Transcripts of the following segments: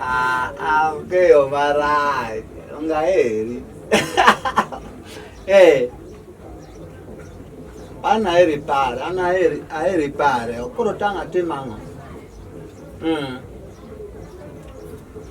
Aongeyo marach, ongaheri eh, an aheri pare, an aheri pare, koro tang' atim ang'o? Hmm.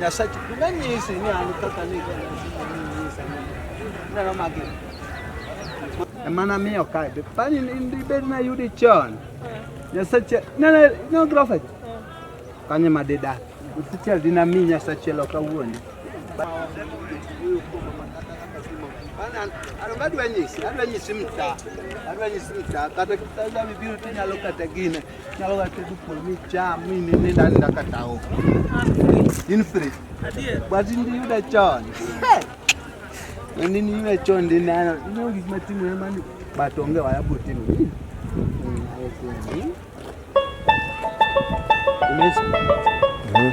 Nyasachi nganyisi ni an kaka ni ndalo magi emana miyo kae be pani ndibed na yudi chon Nyasachi nene no grofet kanye madida Nyasachi dina mi Nyasachi lo kawuono adwa nyisi mta adwa nyisi mta kata kata bibiro tinyalo kata gine Nyalo ga tedo kuon micham mi nind aninda kata o. In free. But in yuda chon. Ni ni yuda chon ndi nano. Ni onge gik matimo ne mani but onge waya botimo. Yes. Mm-hmm.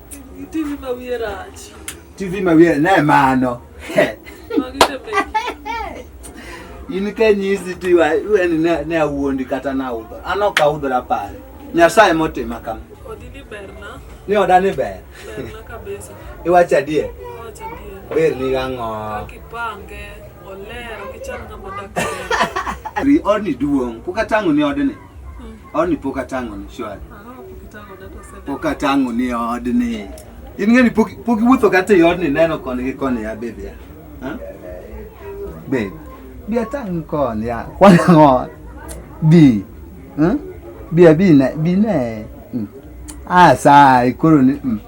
TV ma wiye rach. TV ma wiye ne mano. In ka nyisi ti wa wen ne ne awuondi kata na udho. An ok audhora pare. Nyasaye motima kama. Odi ni ber na. Ni oda ni ber. Ber na kabisa. Iwacho adier. Iwacho adier. Ber ni gang'o. Kipange. Oler, kichal ng'ama dak. Ri odni duong', kuka tang'o ni odni. Au ni poka tango ni shwari. Poka tango ni od ni. In ngani poki poki wuotho kata e od ni neno koni gi koni ya bebe ya. Ha? Bebe. Bia tango koni ya. Kwana ngo. Bi. Ha? Bia bi na bi na. Hmm. Ah sa ikoro ni. Hmm.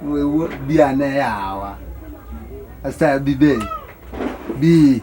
Wewe bia na yawa. Asa bi be. Bi.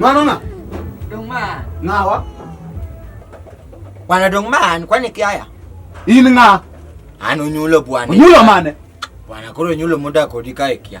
Mwana na? Dongma. Ngawa? Bwana Dongma, ni kwani kiaya? Ini nga. Anu nyulo bwana. Nyulo mane? Bwana koro nyulo muda kodika ikia.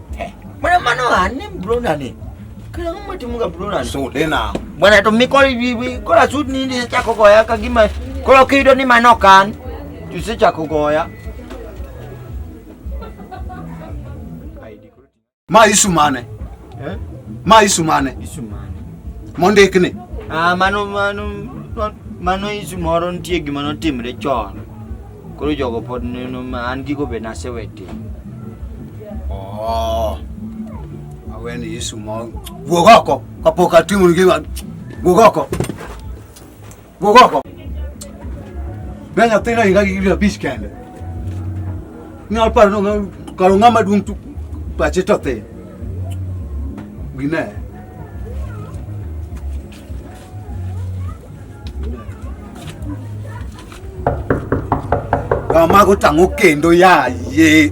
Eh, mana mano ani brona ni. Kila mama timuga brona. So dena. Bwana to miko bibi kola sud ni ndi cha kogoya ka gima kola kido ni manokan. Tuse cha kogoya. Ma isu mane? Eh? Ma isu mane? Isu mane. Mondik ni. Ah mano mano mano isu moro nitie gima notimre chon. Koro jogo pod neno ma an gigo be nasewe timo. Oh. Awe ni Yesu ma wuog oko kapok atimo gima wuog oko. Wuog oko. Be nyathina inga gi gibira bich kende. Nyal paro no karo ng'ama duong' tu pache to thin. Gine. Kama kutang'o kendo yaye.